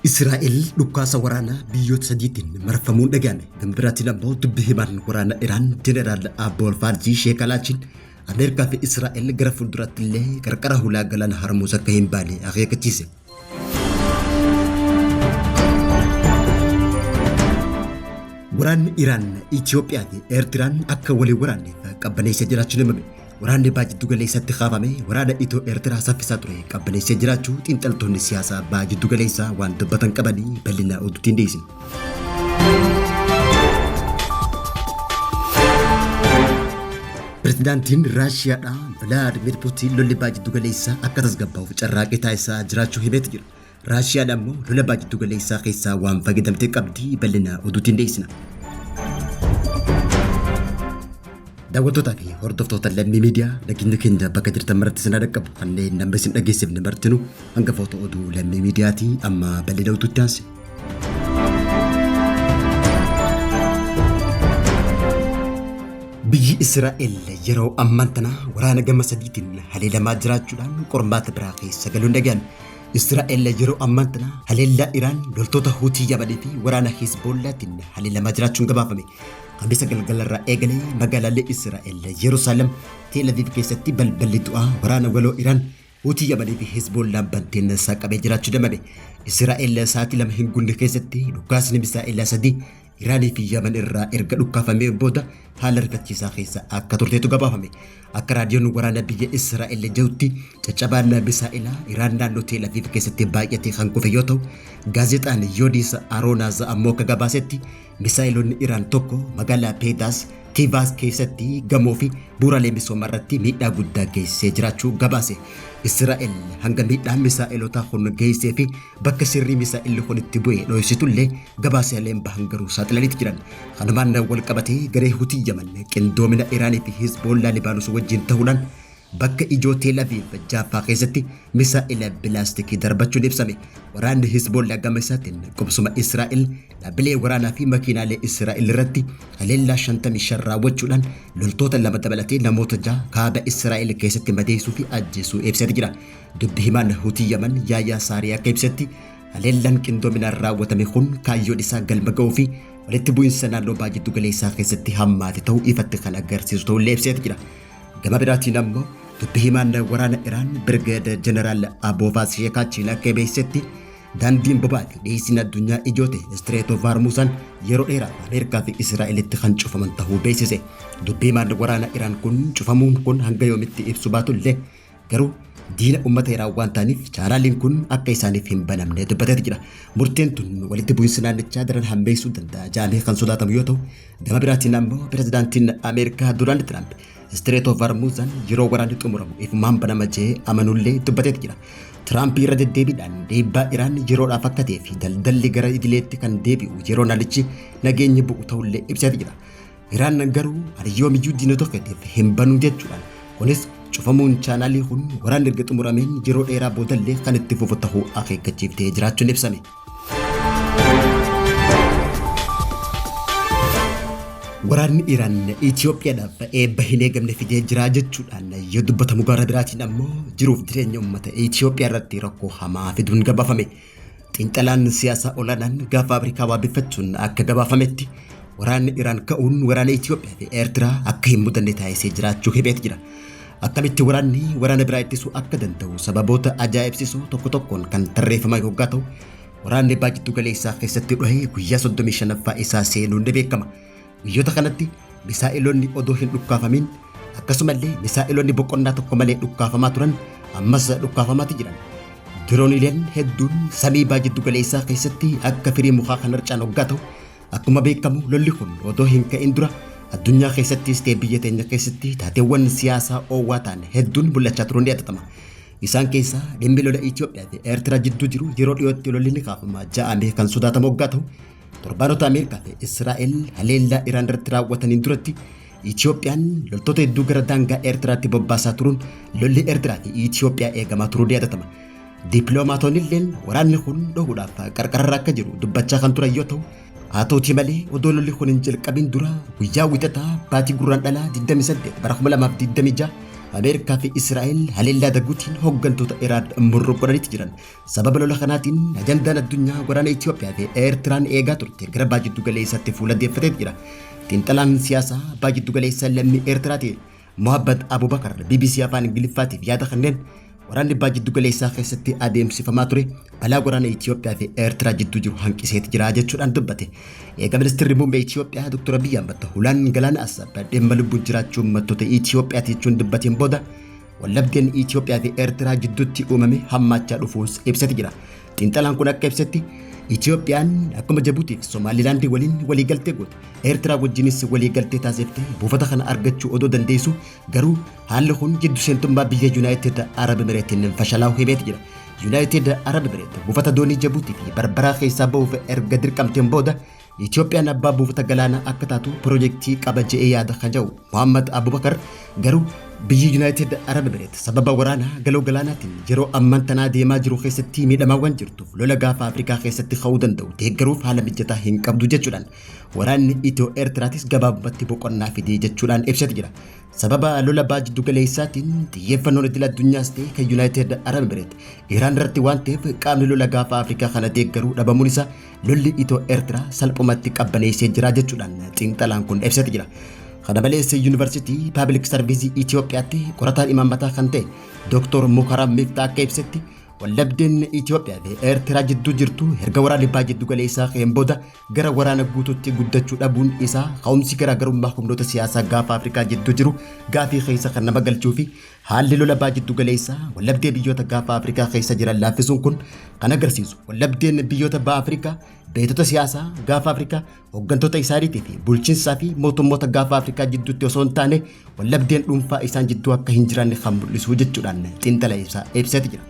Israa'el dhukkaasa waraanaa biyyoota sadiitiin marfamuun dhaga'ame. Gama biraatiin ammoo dubbi himaan waraana Iraan Jeneraal Abbool Faarzii Sheek Alaachiin Ameerikaa fi Israa'el gara fuulduraatti illee qarqara hulaa galaana Harmuus akka hin baane akeekkachiise. Waraanni Iraan Itoophiyaa fi Eertiraan akka walii waraanneef qabbaneessa jiraachuun himame. Waraanni Baha Jiddugaleessaatti kaafame waraana Itoo-Eertiraa saffisaa ture qabbaneessee jiraachuu xiinxaltoonni siyaasaa Baha Jiddugaleessaa waan dubbatan qabanii bal'inaa oduutiin dhiyeessina. Pirezidaantiin Raashiyaadhaa Vilaadimir Puutiin lolli Baha Jiddugaleessaa akka tasgabbaa'uuf carraaqqii taasisaa jiraachuu himeeti jira. Raashiyaan ammoo lola baha jiddu galeessaa keessaa waan fayyadamte qabdi bal'ina oduutiin dhiyeessina. Daawwattootaa fi hordoftoota lammii miidiyaa nageenya keenya bakka jirtan maratti isin dhaqqabu kanneen nama isin dhageessifne martinu hangafoota oduu lammii miidiyaati amma bal'ina oduutti aansi. Biyyi Israa'el yeroo ammaan tana waraana gama sadiitiin haleelamaa jiraachuudhaan qormaata biraa keessa galuun dhaga'ame. Israa'el yeroo ammaan tana haleellaa Iraan loltoota Huutii Yaman fi waraana Hizboollaatiin haleelamaa jiraachuun gabaafame. Kamisa galgalarraa eegalee magaalaalee Israa'el Yerusaalem Teel Aviv keessatti balballi du'aa waraana waloo Iraan Huutii Yaman fi Hizboollaan banteen saaqamee jiraachuu damade. Israa'el sa'aatii lama hin guunne keessatti dhukaasni misaa'elaa sadii Iraanii fi Yaman irraa erga dhukkaafamee booda haala rifachiisaa keessa akka turteetu gabaafame. Akka raadiyoon waraana biyya Israa'el jedhutti caccabaan misaa'elaa Iraan naannoo Teel Aviiv keessatti baay'atee kan kufe yoo ta'u, gaazexaan Yoodiisa Aroonaaz ammoo akka gabaasetti misaa'eloonni Iraan tokko magaalaa Peedaas Tiivaas keessatti gamoo fi bu'uuraalee misoomaa irratti miidhaa guddaa geessee jiraachuu gabaase. Israa'el hanga miidhaan misaa'elotaa kun geessee fi bakka sirrii misaa'illi kun itti bu'e dho'isitullee gabaasaaleen bahan garuu saaxilaniiti jiran. Kanumaan wal qabatee garee Hutii Yaman qindoomina Iraanii fi Hizboollaa Libaanos wajjin ta'uudhaan bakka ijoo Teel Aviiv Jaaffaa keessatti misaa'ila bilaastikii darbachuun ibsame. Waraanni Hizboollaa gama isaatiin qubsuma Israa'el dhaabbilee waraanaa fi makiinaalee Israa'el irratti haleellaa 55 raawwachuudhaan loltoota lama dabalatee namoota jaha kaaba Israa'el keessatti madeessuu fi ajjeesuu ibseeti jira. Dubbi himaan Hutii Yaman Yaayaa Saaree akka ibsetti haleellaan qindoominaan raawwatame kun kaayyoon isaa galma ga'uu fi walitti bu'iinsa naannoo baha jiddu galeessaa keessatti hammaate ta'uu ifatti kan agarsiisu ta'uu illee ibseeti jira. Gama biraatiin ammoo dubbi himaan waraana Iraan Birgeed Jeneraal Aboovaas Sheekaachiin akka beeksisetti daandiin bobaa fi dhiyeessiin addunyaa ijoo ta'e Istireet of Hormuuzan yeroo dheeraaf Ameerikaa fi Israa'elitti kan cufaman ta'uu beeksise. Dubbi himaan waraana Iraan kun cufamuun kun hanga yoomitti ibsu baatullee Garuu diina uummata Iraan waan ta'aniif chaanaaliin kun akka isaaniif hin banamne dubbateeti jira. Murteen tun walitti bu'iinsa naannichaa daran hammeessuu danda'a jedhamee kan sodaatamu yoo ta'u, gama biraatiin ammoo pirezidaantiin Ameerikaa Doonaald Tiraamp Istireet of Hormuuzan yeroo waraanni xumuramu ifumaan banama jedhee amanullee dubbateeti jira. Tiraamp irra deddeebiidhaan dhiibbaa Iraan yeroodhaaf akka ta'ee fi daldalli gara idileetti kan deebi'u yeroo naannichi nageenyi bu'u ta'ullee ibseeti jira. Iraan garuu ani yoomiyyuu diinota fedheef hin banu jechuudhaan kunis cufamuun chaanaalii kun waraanni erga xumurameen yeroo dheeraa boodallee kan itti fufu ta'uu akeekkachiiftee jiraachuun ibsame. Waraanni Iraan Itoophiyaadhaaf eebba hin eegamne fidee jiraa jechuudhaan yoo dubbatamu gara biraatiin ammoo jiruuf jireenya uummata Itoophiyaa irratti rakkoo hamaa fiduun gabaafame. Xiinxalaan siyaasaa olaanaan gaafa Afrikaa waabeffachuun akka gabaafametti waraanni Iraan ka'uun waraana Itoophiyaa fi Eertiraa akka hin mudanne taasisee jiraachuu himeet jira. Akkamitti waraanni waraana biraa ittisuu akka danda'u sababoota ajaa'ibsiisoo tokko tokkoon kan tarreeffamaa yoggaa ta'u waraanni baajjittuu galeessaa keessatti dhohee guyyaa 35ffaa isaa seenuun ni beekama. Guyyoota kanatti misaa'eloonni odoo hin dhukkaafamin akkasumallee misaa'eloonni boqonnaa tokko malee dhukkaafamaa turan ammas dhukkaafamaati jiran. Dirooniileen hedduun samii baa jiddu galeessaa keessatti akka firii mukaa kan harcaan hoggaa ta'u akkuma beekamu lolli kun odoo hin ka'in dura addunyaa keessattis ta'e biyya teenya keessatti taateewwan siyaasaa oowwaa ta'an hedduun mul'achaa turuun ni yaadatama. Isaan keessaa dhimmi lola Itoophiyaa fi Eertiraa jidduu jiru yeroo dhiyootti lolli ni kaafama ja'amee kan sodaatamu hoggaa ta'u Torbaanota Ameerikaa fi Israa'el haleellaa Iraan irratti raawwataniin duratti Itiyoophiyaan loltoota hedduu gara daangaa Eertiraatti bobbaasaa turuun lolli Eertiraa fi Itiyoophiyaa eegamaa turuu ni yaadatama. Dippiloomaatonni illeen waraanni kun dhohuudhaaf qarqararra akka jiru dubbachaa kan turan yoo ta'u, haa ta'utii malee odoo lolli kun hin jalqabin dura guyyaa wixataa baatii gurraan dhalaa 28 bara 2026 Ameerikaa fi Israa'el haleellaa daguutiin hooggantoota Iraan murruu godhanitti jiran Sababa lola kanaatiin ajandaan addunyaa waraana Itoophiyaa fi Eertiraan eegaa turte gara baha jiddu galeessaatti fuula deeffatee jira. Xiinxalaan siyaasaa baha jiddu galeessaa lammii Eertiraa ta'e Mohaabbat Abubakar BBC Afaan Ingiliffaatiif yaada kanneen waraanni baha jiddu galeessaa keessatti adeemsifamaa ture balaa waraana Itoophiyaa fi Eertiraa jidduu jiru hanqiseeti jira jechuudhaan dubbate. Eega ministeerri muummee Itoophiyaa Dr. Abiyyi Ahmad hulaan galaana Asab dhimma lubbuun jiraachuu uummattoota Itoophiyaati jechuun dubbateen booda Wallabdeen Itoophiyaa fi Eertiraa jidduutti uumame hammaachaa dhufuus ibsati jira. Xiinxalaan kun akka ibsetti Itoophiyaan akkuma Jabuutii fi Somaalilaandii waliin waliigaltee goote Eertiraa wajjinis waliigaltee taasifte buufata kana argachuu odoo dandeessu garuu haalli kun jiddu seentummaa biyya Yuunaayitid Arab Emireetiin fashalaa'u himeeti jira. Yuunaayitid Arab Emireet buufata doonii Jabuutii fi Barbaraa keessaa ba'uuf erga dirqamteen booda Itoophiyaan abbaa buufata galaanaa akka taatu pirojektii qaba je'ee yaada kan jedhu Muhammad Abubakar garuu biyyi Yuunaayitid Arab Emireet sababa waraana galoo galaanaatiin yeroo amman tanaa deemaa jiru keessatti miidhamaawwan jirtuuf lola gaafa Afrikaa keessatti ka'uu danda'u deeggaruuf haala mijataa hin qabdu jechuudhaan waraanni Itiyoo Eertiraatis gabaabumatti boqonnaa fidee jechuudhaan ibsati jira. Sababa lola baa jiddu galeessaatiin xiyyeeffannoon idil addunyaas ta'e kan Yuunaayitid Arab Emireet Iraan irratti waan ta'eef qaamni lola gaafa Afrikaa kana deeggaruu dhabamuun isaa lolli Itoo Eertiraa salphumatti qabbaneessee jira jechuudhaan xiinxalaan kun ibsati jira. Kana malees Yuunivarsiitii Paabilik Sarviizii Itoophiyaatti qorataan imaammataa kan ta'e Dooktor Mukaram Miftaa akka ibsetti waldhabdeen Itoophiyaa fi Eertiraa jidduu jirtu erga waraanni bahaa jiddu galeessaa ka'een booda gara waraana guutuutti guddachuu dhabuun isaa ka'umsi garaagarummaa humnoota siyaasaa gaafa Afrikaa jidduu jiru gaafii keessa kan nama galchuu fi Haalli lola Baha Jiddu Galeessaa waldhabdee biyyoota Gaafa Afrikaa keessa jiran laaffisuun kun kan agarsiisu waldhabdeen biyyoota Baha Afrikaa beektota siyaasaa Gaafa Afrikaa, hoggantoota isaaniitii fi bulchiinsaa fi mootummoota Gaafa Afrikaa jidduutti osoo hin taane waldhabdeen dhuunfaa isaan jidduu akka hin jiraanne kan mul'isu jechuudhaan xiinxala ibsaa ibseeti jira.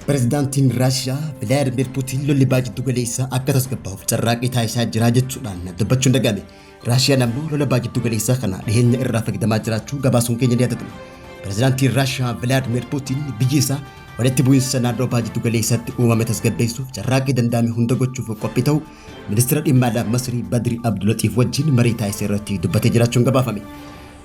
Pireezidaantiin Raashiyaa Vilaadimir Puutiin lolli Baha Jiddu Galeessaa akka tasgabbaa'uuf carraaqqii taasisaa jira jechuudhaan dubbachuun dhaga'ame. Raashiyaan ammoo lola baa giddu galeessaa kana dhiheenya irraa fayyadamaa jiraachuu gabaasuun keenya ni yaadatama. Pirezidaantiin Raashiyaa Vilaadimir Puutiin biyyi isaa walitti bu'iinsa naannoo baa giddu galeessaatti uumame tasgabbeessuuf carraaqqii danda'ame hunda gochuuf qophii ta'u ministeera dhimma alaa Masrii Badri Abdulaxiif wajjin marii taasise irratti dubbatee jiraachuun gabaafame.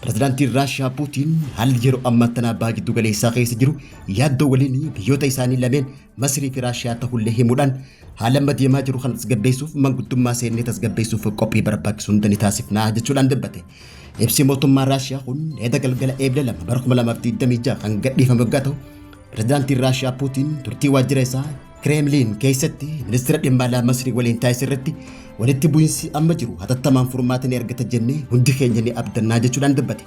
Pirezidaantiin Raashiyaa Puutiin haalli yeroo ammaa tanaa baa giddu galeessaa keessa jiru yaaddoo waliin biyyoota isaanii lameen Masrii fi Raashiyaa ta'ullee himuudhaan Haala amma deemaa jiru kana tasgabbeessuuf manguddommaa seennee tasgabbeessuuf qophii barbaachisu hunda ni taasifna jechuudhaan dubbate. Ibsi mootummaa Raashiyaa kun eeda galgala eebla lama bara 2026 kan gadhiifame waggaa ta'u pirezidaantiin Raashiyaa Puutiin turtii waajjira isaa Kireemliin keessatti ministeera dhimma alaa Masrii waliin taasise irratti walitti bu'iinsi amma jiru hatattamaan furmaata ni argata jennee hundi keenya ni abdannaa jechuudhaan dubbate.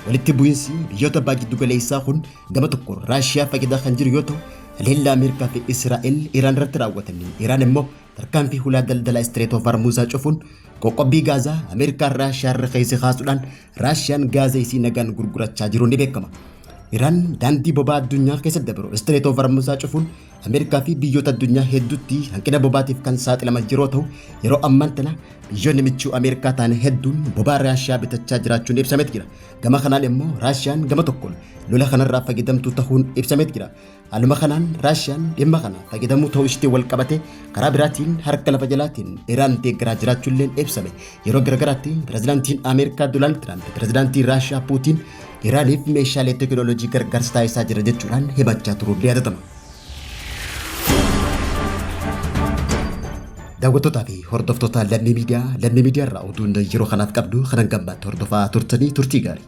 Walitti bu'iinsi biyyoota baha jiddu galeessaa kun gama tokkoon Raashiyaa fayyadaa kan jiru yoo ta'u, haleellaa Ameerikaa fi Israa'el Iraan irratti raawwataniin Iraan immoo tarkaanfii hulaa daldalaa Istireet of Harmuuzaa cufuun qoqqobbii Gaazaa Ameerikaan Raashiyaa irra keessa kaasuudhaan Raashiyaan Gaaza isii nagaan gurgurachaa jiruun ni beekama. Iraan daandii bobaa addunyaa keessa dabru Istireet of Harmuuzaa cufuun Ameerikaa fi biyyoota addunyaa hedduutti hanqina bobaatiif kan saaxilaman yeroo ta'u, yeroo ammaan tana biyyoonni michuu Ameerikaa ta'an hedduun bobaa Raashiyaa bitachaa jiraachuun ibsameet jira. Gama kanaan immoo Raashiyaan gama tokkoon lola kanarraa fayyadamtuu tahuun ibsameet jira. Haaluma kanaan Raashiyaan dhimma kana fayyadamuu ta'uu ishiitiin wal qabatee karaa biraatiin harka lafa jalaatiin Iraan deeggaraa jiraachuulleen ibsame. Yeroo garagaraatti pirezidaantiin Ameerikaa Doonaald Tiraamp pirezidaantii Raashiyaa Puutiin Iraaniif meeshaalee teekinooloojii gargaarsa taasisaa jira jechuudhaan himachaa turuun ni yaadatama. Daawwattootaa fi hordoftoota lammii miidiyaa lammii miidiyaa irraa oduun yeroo kanaaf qabnu kanan gammaatti hordofaa turtanii turtii gaarii.